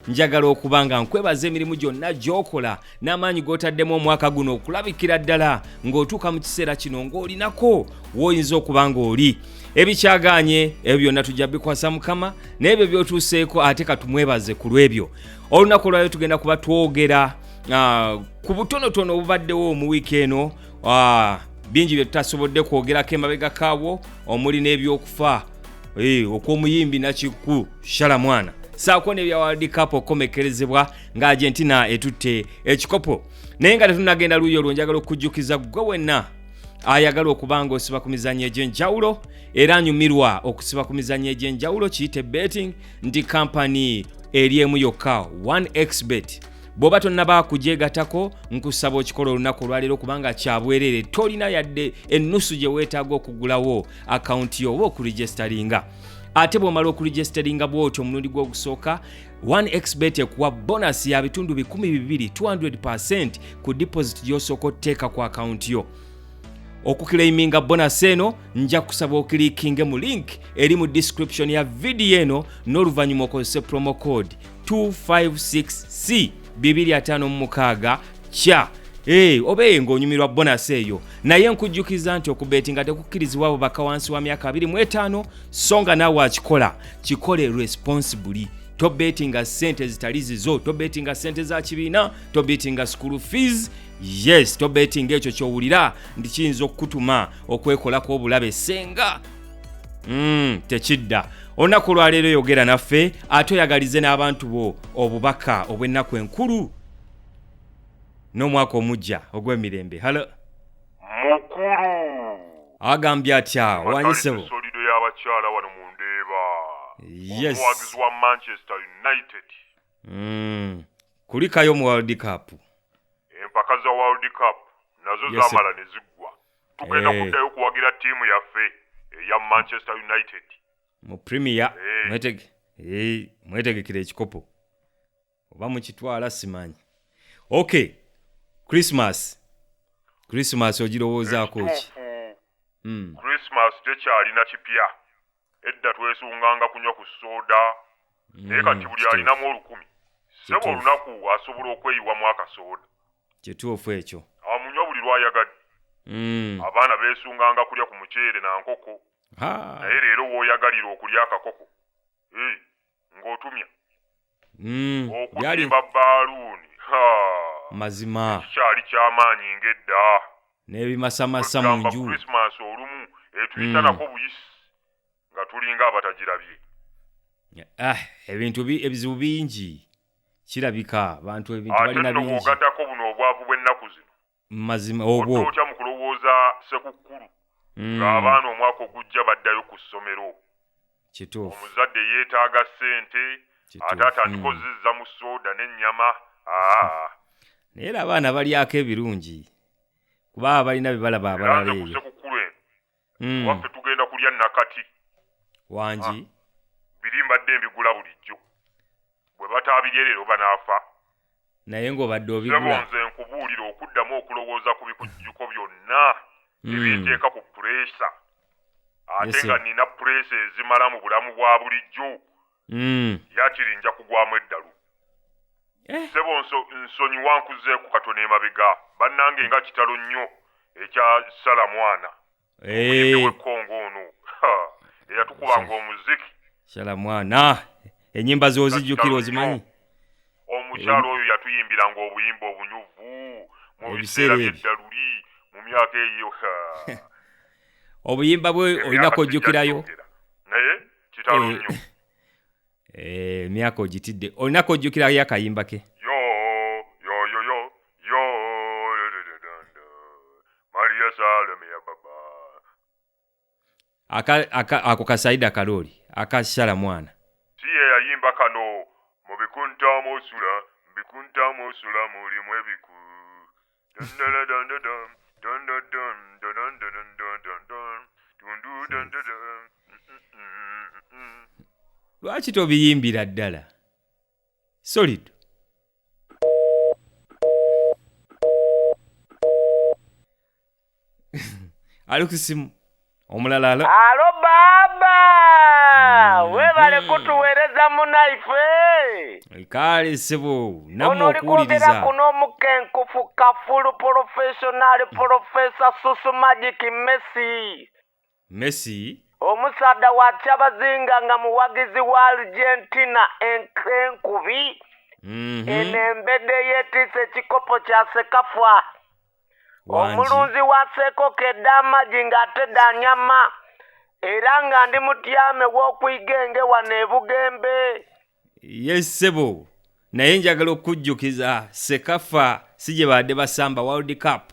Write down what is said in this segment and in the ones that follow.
njagala okuba nga nkwebaza emirimu gyonna gy'okola n'amaanyi g'otaddemu omwaka guno okulabikira ddala ng'otuuka mu kiseera kino ng'olinako w'oyinza okuba ng'oli ebikyagaanye ebyo byonna tujja bikwasa mukama n'ebyo by'otuuseeko ate katumwebaze ku lw'ebyo olunaku olwayo tugenda kuba twogera ah, ku butonotono obubaddewo mu wiiki eno ah, bingi bye tutasobodde kwogerako emabega kaabwo omuli n'ebyokufa Eh, okw'omuyimbi nakikku shala mwana saako nebya world cup okukomekerezebwa nga argentina etutte ekikopo naye nga tetunagenda luuyi olwo njagala okujjukiza gwe wenna ayagala okuba nga osiba ku mizanyo egy'enjawulo era anyumirwa okusiba ku mizanyo egy'enjawulo kiyite betting nti kampani eri emu yokka 1xbet bwoba tonnaba kugyegatako nkusaba okikola olunaku olwaleero kubanga kyabwerere tolina yadde ennusu gye weetaaga okugulawo akawunti yo oba okurijisitalinga ate bw'omala okurijisitalinga bw'otyo omulundi gw'ogusooka 1xbet ekuwa bonasi ya bitundu 12 200 ku deposit gy'osooka oteeka ku akawunti yo okukilayiminga bonasi eno nja kusaba okilikinge mu link eri mu description ya vidiyo eno n'oluvannyuma okozese promo code 256 c 256 kya Hey, obeye ng'onyumirwa bonasi eyo naye nkujjukiza nti okubeetinga tekukkirizibwa abo baka wansi wa myaka 25 so nga naawe akikola kikole responsibly tobeetinga ssente ezitali zizo tobeetinga ssente za kibiina tobeetinga school fees yes tobeetinga ekyo kyowulira nti kiyinza okukutuma okwekolako obulabe senga Mm, tekidda olunaku olwaleero yogera naffe ate oyagalize n'abantu bo obubaka obw'ennaku enkulu n'omwaka omujja ogw'emirembe halo mukulu agambye atya wanyisebo solido y'abakyala wano mu ndeeba yes omuwagizi wa manchester united mm. kulikayo mu world cup empaka za world cup nazo Yes, sir. zamala ne ziggwa tugenda Eh. kuddayo okuwagira ttiimu yaffe eya manchester united mu premier Eh. mwetege eh, mwetegekera ekikopo oba mukitwala simanyi ok christmas christmas ogirowoozaako ki ekituufu Mm. christmas tekyalina kipya edda twesunganga kunywa ku soda naye kati buli kituufu. alinamu olukumi sebo Kituufu. olunaku asobola okweyiwamu akasoda kituufu ekyo amunywa buli lwayagadde mm. abaana beesunganga kulya ku muceere na nkoko naye leero wooyagalira okulya akakoko hey, ng'otumya mm. okulimba baaluuni mazima ekikyali ky'amaanyi ng'edda n'ebimasamasa mu nju olumu etuyitanako mm. buyisi nga tulinga abatagirabye ah, ebintu ebizibu bingi kirabika abantu ebintu balina bingi bwogatako buno obwavu bw'ennaku zino mazima obwo otya mu kulowooza sekukkulu mm. ng'abaana omwaka ogujja baddayo ku ssomero kituufu omuzadde yeetaaga ssente ate atandika mm. ozizza mu sooda n'ennyama aa naye era abaana balyako ebirungi kuba balina bye balaba abalala eyo Mm. waffe tugenda kulya nakati wangi ah. biri mbadde mbigula bulijjo bwe bataabirye leero banaafa naye ng'obadde obigula nze nkubuulira okuddamu okulowooza ku bikujjuko byonna hmm. ebinteeka ku pureesa ate nga nina pureesa ezimala mu bulamu bwa bulijjo mm. yakiri nja kugwamu eddalu eh. sebo nsonyi wankuzeeku katono emabega bannange nga kitalo nnyo ekya sala mwana eh. wekongo ono eyatukubanga omuziki sala mwana enyimba zozijjukira ozimanyi omukyalo oyo yatuyimbiranga obuyimba obunyuvu mu biseera byeddaluli mu myaka eyo obuyimba bwe olina kojjukirayo kitalo eh, nnyo eh, emyaka ogitidde olinako ojjukira yo akayimba ke ako kasaida kalooli akashala mwana si ye yayimba kano mu bikunta mwosula mu bikunta mwosula mulimu ebiku lwaki tobiyimbira ddala solid ali ku simu omulala alo alo baaba Mm. webale kutuweereza munaife kaale sebo namwe ono oli kwogera okuwuliriza kuno omukenkufu kafulu porofeshonaali porofesa susu magic messi Messi. Omusaadha wa Kyabazinga nga muwagizi wa Argentina enkubi mm -hmm. eno embedde yeetiisa ekikopo kya Sekafa omulunzi wa seekoko ed'amagi ng'ate da nyama era nga ndi mutyame w'okuyiga enge wano ebugembe yesebo naye njagala okujjukiza sekafa si gye baadde basamba world cup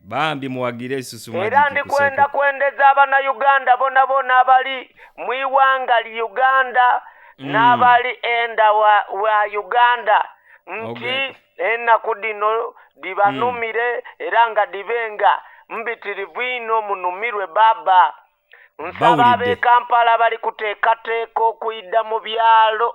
bambi muwagire esusu era mwajjukira ndi kwenda kuseko. kwendeza abanayuganda bona bona abali mu iwanga li uganda Mm. n'abali enda wa, wa uganda nti Ogwe. ennaku dino dibanumire era nga dibe nga mbitirivu ino munumirwe baba nsaba Bawulidde. ab'e kampala bali kuteekateeka okuyida mu byalo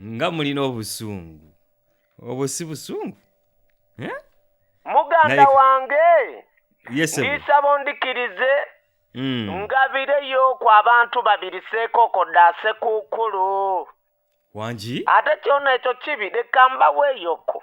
nga mulina obusungu obwo si busungu Eh? muganda Naye- wange yes sebo. ndiisaba ondikirize Mm. ngabireyo ku abantu babiri seekoko dda sekukkulu wangi ate kyona ekyo kibi leka mbaweeyoko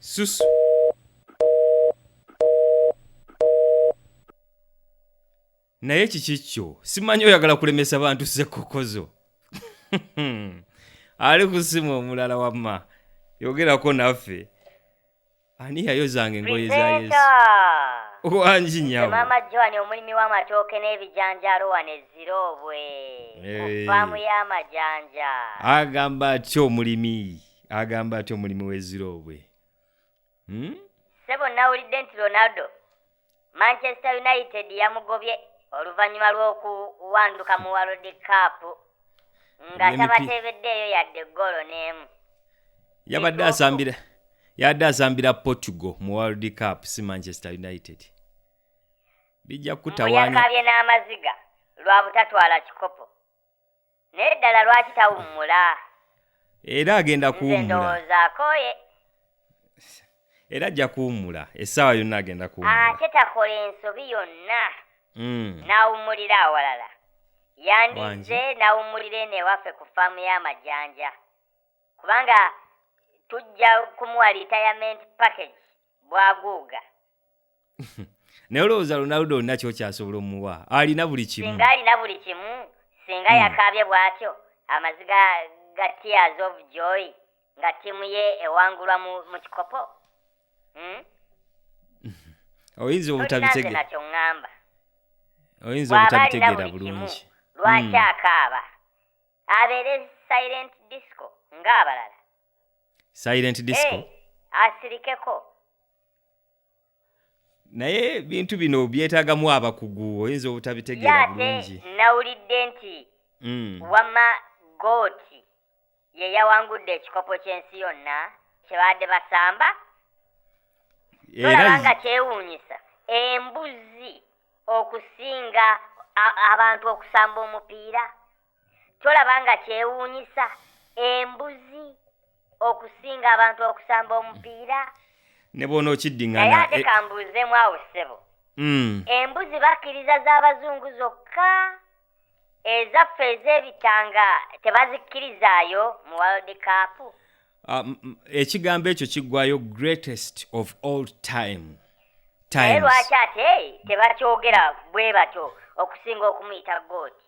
Sus. naye kiki kyo simanyi oyagala kulemesa bantu sekokozo ali kusimu omulala wamma yogerako naffe ani yayozanga engoye za yesu Presenter! wangi Nze nyabo maama joan omulimi w'amatooke n'ebijanjaalo wano ezirobwe ku Eh. faamu y'amajanja agamba atya omulimi agamba atya omulimi w'eziroobwe hmm? ssebo nawulidde nti ronaldo Manchester United yamugobye oluvannyuma lw'okuwanduka mu World Cup nga tabateebeddeeyo yadde ggoolo n'emu. Yabadde asambira yabadde asambira Portugal mu World Cup si Manchester United. Bijja kutawaanya. Yakabye n'amaziga lwa butatwala kikopo. naye ddala lwaki tawummula era agenda kuwummulaakooye era ajja kuwummula essaawa yonna agenda kuwummula ate takola ensobi yonna mm. n'awummulira awalala yandizze n'awummulira eno ewaffe ku faamu y'amajanja kubanga tujja kumuwa retirement package bwaguuga naye olowooza ronaldo olina kyokyasobola omuwa alina buli kimu singa alina buli kimu singa hmm. yakaabye bw'atyo amaziga ga tears of joy nga ttiimu ye ewangulwa mu kikopo hmm? oyinza obutabitegera kyoŋŋamba oyinza obutabitegera bulungi lwaki hmm. akaaba abeere silent disco ng'abalala silent disco hey, asirikeko naye ebintu bino byetagamu abakugu oyinza obutabitegeera bulungi nawulidde nti mm. wama gooti ye yawangudde ekikopo ky'ensi yonna kyebadde basamba olaba nga kyewuunyisa embuzi okusinga abantu okusamba omupiira tolaba nga kyewuunyisa embuzi okusinga abantu okusamba omupiira ne bwona naye okiddiŋŋana ate eh, kambuuzeemu awo ssebo mm, embuzi bakkiriza z'abazungu zokka ezaffe ez'ebitanga tebazikkirizaayo mu world cup ah, m- m- ekigambo ekyo kiggwayo greatest of all time naye times lwaki ate tebakyogera bwe batyo okusinga okumuyita gooti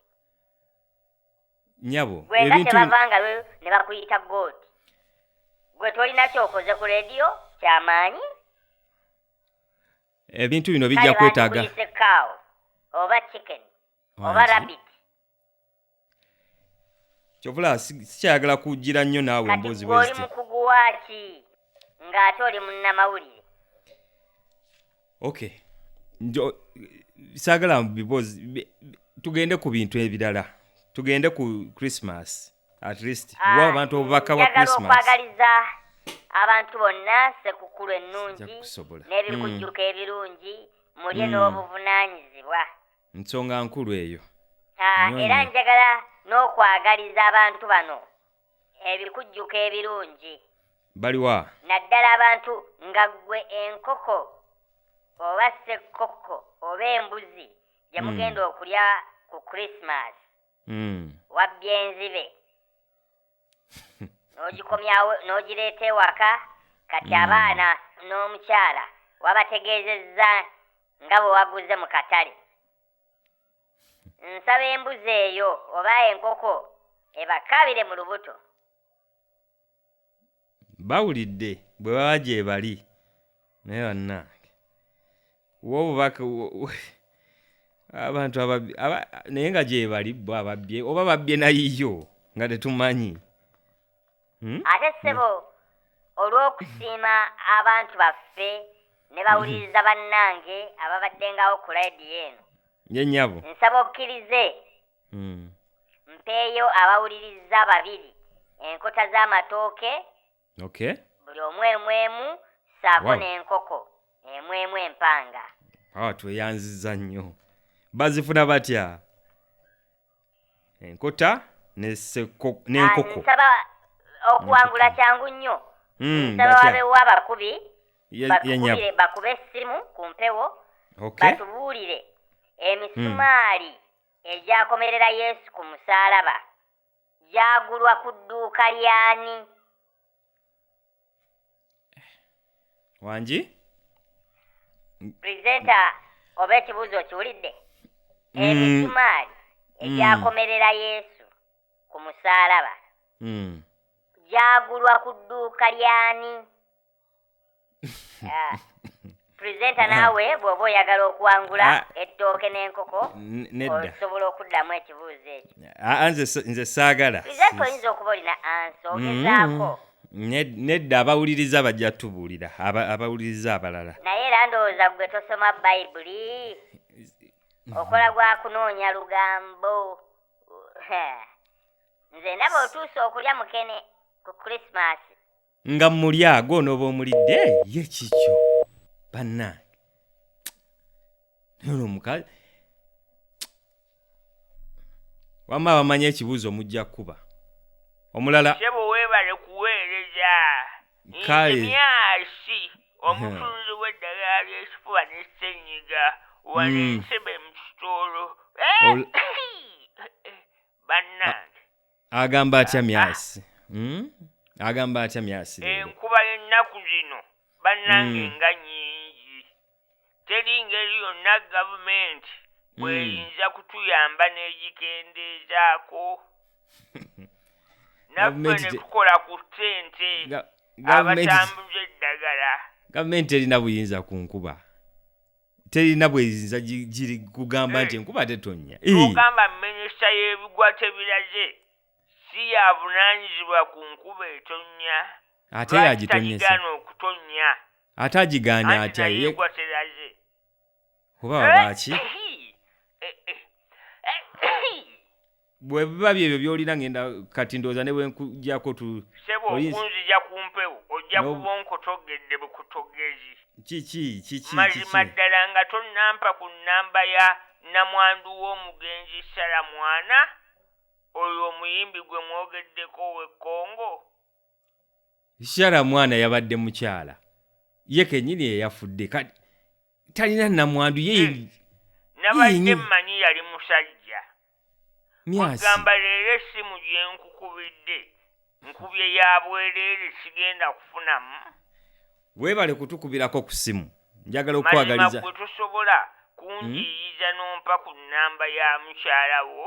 nyabo gwenda ebintu tebavanga lwe ne bakuyita god gwe tolina kyokoze ku rediyo kyamaanyi ebintu bino bijja kale kwetaaga bandikuyise cow oba chicken oba Wangi. rabbit kyovula si- sikyayagala kugira nnyo naawe kati emboozi gwe oli bweziti mukugu waaki ng'ate oli munnamawulire okay njo saagala because bi- bi- tugende ku bintu ebirala tugende ku christmas at least Ah, wa abantu obubaka bwa njagala christmas okwagaliza abantu bonna sekukulu ennungi Nja kusobola. n'ebikujjuko ebirungi mulye Mm. n'obuvunaanyizibwa nsonga nkulu eyo Ah, Nnyo era nnyo. njagala n'okwagaliza abantu bano ebikujjuko ebirungi baliwa naddala abantu nga ggwe enkoko oba ssekkokko oba embuzi gye hmm. mugenda mm. okulya ku christmas mm. wabbya enzibe n'ogikomyawo n'ogireeta ewaka kati hmm. abaana n'omukyala wabategeezezza nga bwe waguze mu katale Nsaba embuzi eyo oba enkoko ebakaabire mu lubuto. Bawulidde bwe baba gyebali naye bannange wa obubaka wo- wo- abantu ababbi- aba- naye nga gyebali bo ababbye oba babbye nayiyo nga tetumanyi Hmm? ate ssebo olw'okusiima abantu baffe ne bawuliriza bannange ababaddengawo ku layidiyo eno ye nyabo nsaba okkirize Hmm. mpeeyo abawuliriza babiri enkota z'amatooke okay buli omu emu emu saako Wow. n'enkoko emu emu empanga awa tweyanziza nnyo bazifuna batya enkota ne seko- Ah, n'enkoko nsaba okuwangula kyangu nnyo Mm, nsaba batya? wabeewo abakubi Ye- ye nyabo. bakubire bakube essimu ku mpewo Okay. batubuulire emisumaali egyakomerera yesu ku musaalaba gyagulwa ku dduuka ly'ani wangi pulezenta oba ekibuuzo okiwulidde Mm. emisumaali egyakomerera yesu ku musaalaba Mm. gyagulwa ku dduuka ly'ani Ah. presenter naawe bw'oba oyagala okuwangula Ah. ettooke n'enkoko N- nedda osobola okuddamu ekibuuzo ekyo Ah, ah, nze s- nze saagala presenter oyinza okuba olina ansa ogezaako Ned- nedda abawuliriza bajja tubuulira aba- abawuliriza abalala naye era ndowooza gwe tosoma bayibuli okola gwa kunoonya lugambo nze ndaba otuuse okulya mukene ku krismasi nga muli ago onooba omulidde ye kikyo bannange naye ono omukazi wamma abamanyi ekibuuzo mujja kukuba omulala sebo weebale kuweereza Kale. nze myasi omutunzi w'eddagala ly'ekifuba ne ssenyiga wano Mm. ensebe mu kitolo Ol- bannange agamba atya myasi hmm? agamba atya myasi enkuba yennaku zino bannange hmm. nga nyingi teri ngeri yonna gavumenti hmm. bweyinza kutuyamba n'egikendeezaako naffe ne tukola ku ssente abatambuza eddagala gavumenti erina buyinza ku nkuba terina bweyinza giri kugamba nti eh. enkuba tetonnya ogamba minisita y'ebigwa tebiraze si yavunanyizibwa ku nkuba etonnya ate yagitonnyesa okutonnya ate agigaana atya yegwa teraze kuba eh, wabaki eh, bwe biba byebyo by'olina ngenda kati ndowooza ne bwe nkujako tu sebo Oyinza- okunzija ku mpewo ojja No. kuba onkotogedde bukutogezi kiki kiki mazima kiki ddala nga tonnampa ku nnamba ya namwandu w'omugenzi sala mwana oyo omuyimbi gwe mwogeddeko ow'e congo Shara mwana yabadde mukyala ye kenyini eyafudde kati talina namwandu ye eh, nabadde mmanyi yali musajja ogamba leero essimu gye nkukubidde nkubye ya bwereere sigenda kufunamu weebale kutukubirako ku ssimu njagala okukwagaliza gwe tosobola kunjiyiza hmm? n'ompa ku nnamba ya mukyala wo